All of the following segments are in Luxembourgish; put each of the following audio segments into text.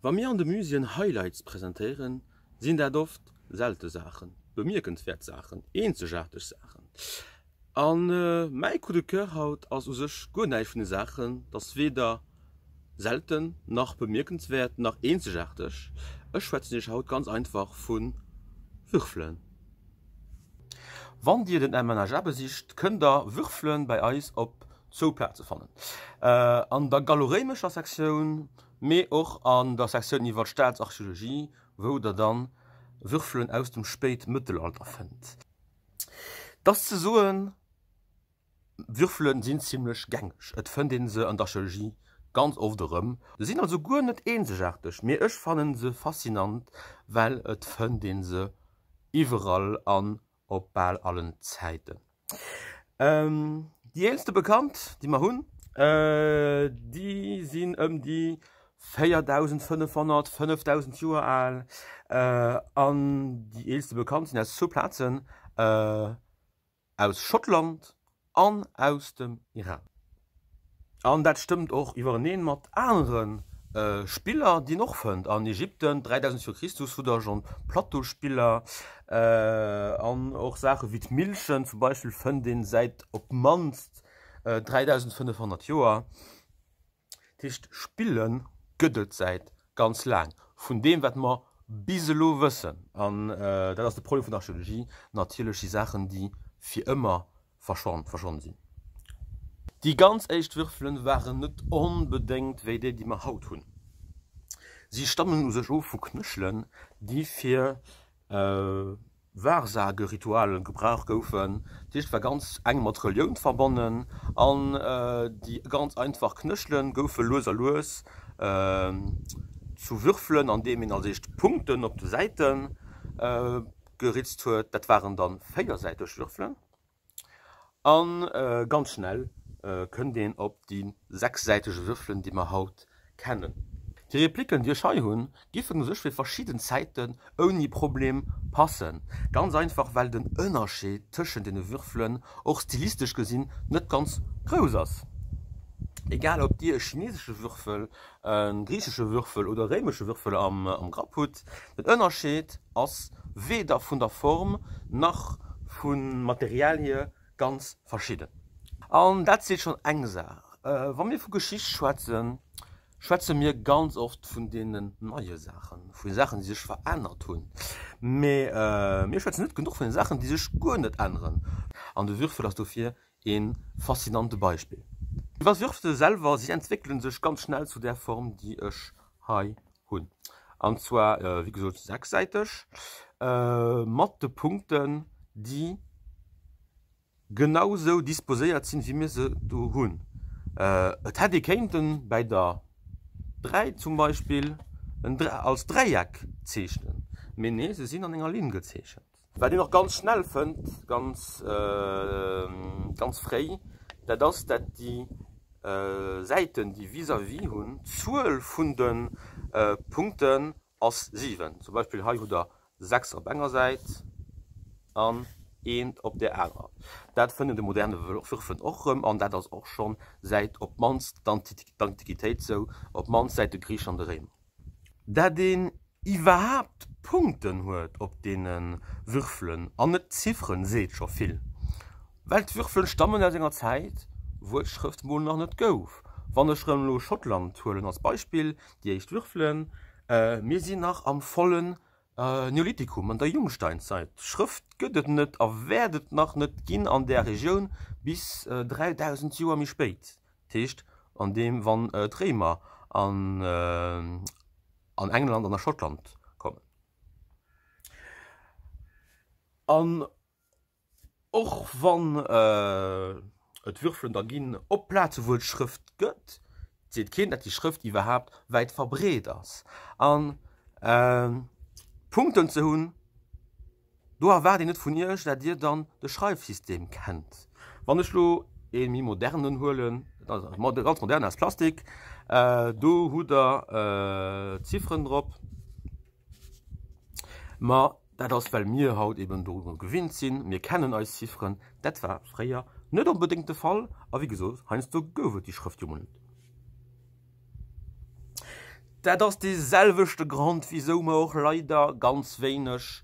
Wa mir an de Muséeën Highlights presentéieren, sinn dat oft selte Saachen, bemierkenswäert Saachen, eenzegaarteg Saachen. A mäi Coup de coeur haut ass u sech guer näischt vun de Saachen, ass weder selten, nach bemierkenswäert, nach eenzegaarteg. Ech schwätzen Iech haut ganz einfach vu Würfelen. Wann Dir den MNHA besicht, kënnt Der Würfele bei eis op Zwou Plaze fannen an der galloréimescher Sektioun, mee och an der Sektioun iwwer d'Staatsarcheologie, wou der dann Würfelen aus dem Spéitmëttelalter fënnt. Et ass ze soen, Würfelen sinn zimlech gängeg, et fënnt een se an der Archeologie ganz oft erëm. Se sinn also guer net eenzegaarteg, mee ech fannen se faszinant, well et fënnt een se iwwerall an op bal allen Zäiten. Déi eelste bekannt déi mer hunn déi sinn ëm déi 4500, 5000 Joer al an déi eelste bekannt sinn aus zwou Plazen aus Schottland an aus dem Iran. An dat stëmmt och iwwereneen mat anere Spiller, déi een och fënnt an Ägypten 3000 vir Christus, wou der schonn Plateauspiller an och Saache wéi d'Millchen zum Beispill fënnt een säit op d'mannst 3500 Joer. Dat heescht, Spille gëtt et säit ganz laang, vun deem, wat mer bis elo wëssen, an dat ass de Problem vun der Archeologie, natierlech si Saachen, déi fir ëmmer verschwonne sinn. Déi ganz éischt Würfelen waren net onbedéngt wéi déi, déi mer haut hunn. Si stammen u sech of vu Knëchelen, déi fir. Wahrsageritualen gebrauch goufen. D'Licht war ganz enk mat Relioun verbonnen an déi ganz einfach Knëchelen goufe lues a lues zu Würfelen an deem een als éischt Punkten op de Säiten geritzt huet. Dat waren dann véiersäiteg Würfelen. A ganz schnell kënnt een op déi sechssäitege Würfelen, déi mer haut kennen. Déi Repliken, déi ech hei hunn, giffen u sech fir verschidden Zäiten ouni Problem passen, ganz einfach well den Ënnerscheed tëschent deene Würfelen och stilistesch gesinn net ganz grouss ass, egal ob Dir e chinesesche Würfel e griichesche Würfel oder e réimesche Würfel am Grapp hutt. Den Ënnerscheed ass weder vun der Form nach vum Material hier ganz verschidden. An dat seet schonn eng Saach. Wa mir vu Geschicht schwätzen, schwätze mir ganz oft vun deenen neie Saachen, vu Saachen, déi sech verännert hunn. Mee mir schwätzen net genuch vun de Saachen, déi sech guer net änneren. An de Würfel ass dofir Een faszinante Beispill. Mee was wirfs de selwer? Si entwéckelen sech ganz schnell zu där Form déi ech hei hunn. An zwar wéi gesot sechssäiteg mat de Punkten déi genau sou disposéiert sinn wéi mir se do hunn. Et hätt ee kéinten bäi der 3 zum Beispill en als Dräieck zeechnen, mee nee se sinn an enger Linn gezeechent. Wat een och ganz schnell fënnt, ganz, ganz fréi, dat ass, dat déi Säiten, déi vis-à-vis hunn, d'Zuel vun de Punkten ass 7. Zum Beispill hei hutt Der 6 op enger Säit an eent op där anerer. Dat fënnt de moderne Würfel och erëm, an dat ass och schonn säit op d'mannst d'Antiquitéit sou, op d'mannst säit de Griichen an de Réimer. dat een iwwerhaapt Punkten huet op deene Würfelen, an net Zifferen, seet scho vill, well d'Würfelen stammen aus enger Zäit, wou et d'Schrëft mol nach net gouf. Wann ech rëm elo Schottland huelen als Beispill, déi éischt Würfelen, mir sinn nach am volle Neolithikum an der Jungsteinzeit. Schrëft gëtt et net a wäert et nach net ginn an där Regioun bis 3000 Joer méi spéit, dat heescht an deem wann d'Réimer an England an a Schottland kommen. Och wann et Würfelen der ginn op Plaze wou et Schrëft gëtt, seet keen dat déi Schrëft iwwerhaapt wäit verbreet ass. An Punkten ze hunn, do erwaart een net vun iech dat dir dann de Schreifsystem kennt. Wann ech lo ee méi modernen huelen, ganz modern aus Plastik, do hutt der Zifferen drop, ma. Dat ass, well mir haut eben doru gewinnt sinn, mir kennen eis Zifferen. Dat war fréier net onbedéngt de Fall. A wéi gesot, heiansdo gouf et déi Schrëft jo emol net. Dat ass dee selwechte Grond, wisou mer och leider ganz wéineg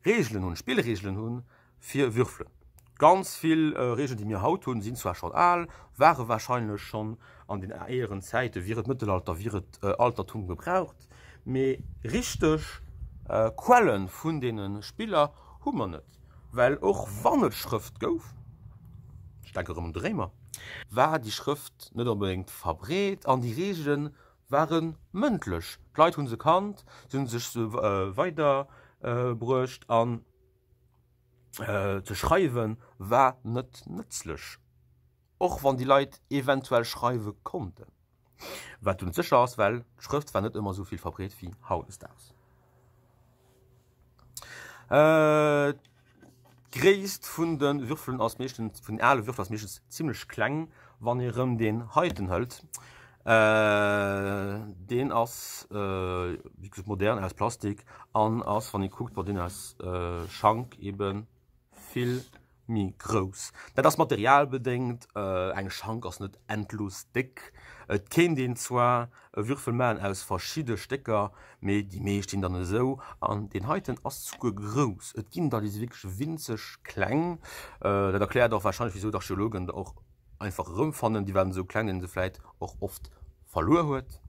Reegelen hunn, Spillreegelen hunn, fir Würfelen. Ganz vill Reegelen, déi mir haut hunn, sinn zwar schonn al, ware warscheinlech schonn an den éieren Zäiten, wier et Mëttelalter, wier et Altertum, gebraucht, mee richteg Quelle vun deene Spiller hu mer net, well och wann et Schrëft gouf, ech denken erëm un de Réimer, war déi Schrëft net onbedéngt verbreet an déi Reegele ware mëndlech, d'Leit hu se kannt, se hu sech se weiderbruecht an Ze schreiwe war net nëtzlech, och wann déi Leit eventuell schreiwe konnten. Wat dunn sécher ass, well d'Schrëft war net ëmmer esou vill verbreet wéi hautdesdaags. D'Gréisst vun de Würfelen ass meeschtens, vun den ale Würfel ass meeschtens zimmlech kleng, wann ee rëm deen heiten hëlt. Deen ass wéi gesot modern, aus Plastik an ass wann ee kuckt, bon deen ass Schank ebe vill méi grouss. Dat ass materialbedéngt, eng Schank ass net endlos déck. Et kéint een zwar e Würfel maachen aus verschidde Stécker, mee déi meescht sinn dann esou. An deen heiten ass souguer grouss, et ginn der déi si wierklech winzeg kleng. Dat erkläert och warscheinlech wisou d'Archeologen der och. einfach erëmfannen, déi waren esou kleng, déi se vläit och oft verluer huet.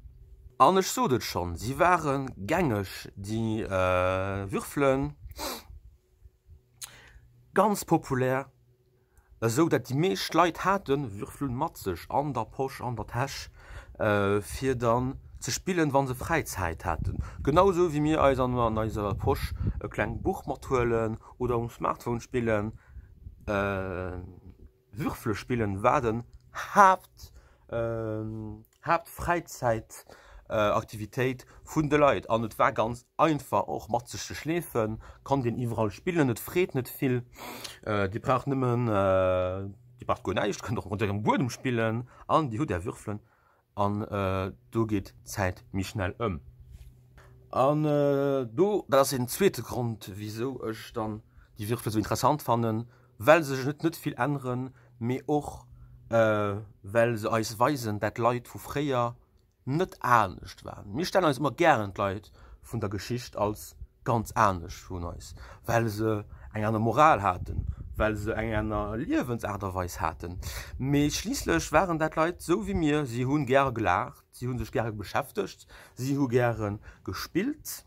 An ech sot et schonn, si ware gängeg, déi Würfelen, ganz populär, esou dat déi meescht Leit hate Würfel mat sech an der Posch, an der Täsch, fir dann ze spillen, wa se fräi Zäit haten. Genau esou wéi mir eis an eiser Posch e klengt Buch mathuelen oder um Smartphone spillen. Würfelspillen war den Haapt Haaptfräizäitaktivitéit vun de Leit an et war ganz einfach och mat sech ze schleefen, konnt een iwwerall spillen, et freet net vill, dir braucht nëmmen dir braucht guer näischt, kënnt och mat ärem Buedem spillen an dir hutt är Würfelen. An do geet d'Zäit méi schnell ëm. An do, dat ass een zweete Grond, wisou ech dann déi Würfel esou interessant fannen, well se sech net net vill änneren, mee och well se eis weisen, dat d'Leit vu fréier net anescht waren. Mir stellen eis ëmmer gären d'Leit vun der Geschicht als ganz anescht vun eis, well se eng aner Moral haten, well se eng aner Liewensaart a Weis haten, mee schliisslech waren dat Leit esou wéi mir, si hu gäre gelaacht, si hu sech gäre beschäftegt, si hu gäre gespillt,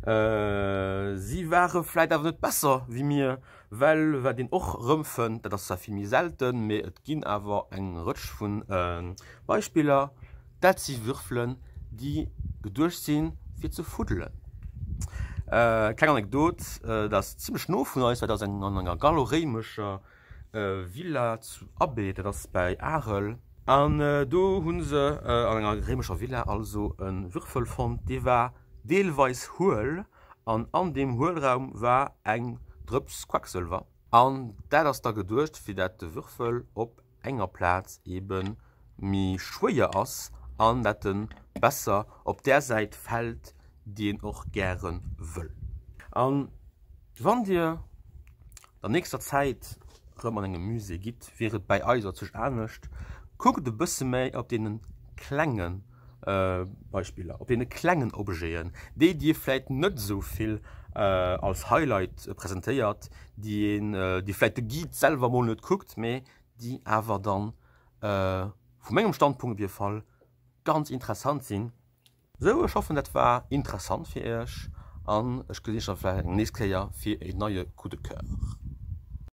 si ware vläit awer net besser wéi mir. Well wat een och erëmfënnt, dat ass zwar vill méi selten, mee et ginn awer eng Rëtsch vu Beispiller, dat si Würfelen, déi geduecht si fir ze fuddelen. Kleng Anekdot, dat ass zimmlech no vun eis, dat ass an enger gallo-réimescher Villa zu Abbeek, dat ass bäi Arel, an do hu se an enger réimescher Villa also e Würfel fonnt, dee war deelweis huel, An an deem Huelraum war eng Drëps Quacksëlwer. An dat ass da geduecht, fir dat de Würfel op enger Plaz ebe méi schwéier ass an dat e besser op där Säit fält, déi een och gäre wëll. A wann Dir der nächster Zäit erëm an engem Musée gitt, wier et bäi eis op sech anescht, Kuckt e bësse méi op dee klenge. Beispiller op deene klengen Objeten, déi Dir vläit net esou vill als Highlight presentéiert, déi een, déi vläit de Guide selwer mol net kuckt, mee déi awer dann, vu mengem Standpunkt op jidde Fall, ganz interessant sinn. Sou, ech hoffen dat war interessant fir Iech an ech gesinn Iech da vläit eng nächst Kéier fir e neie Coup de Coeur.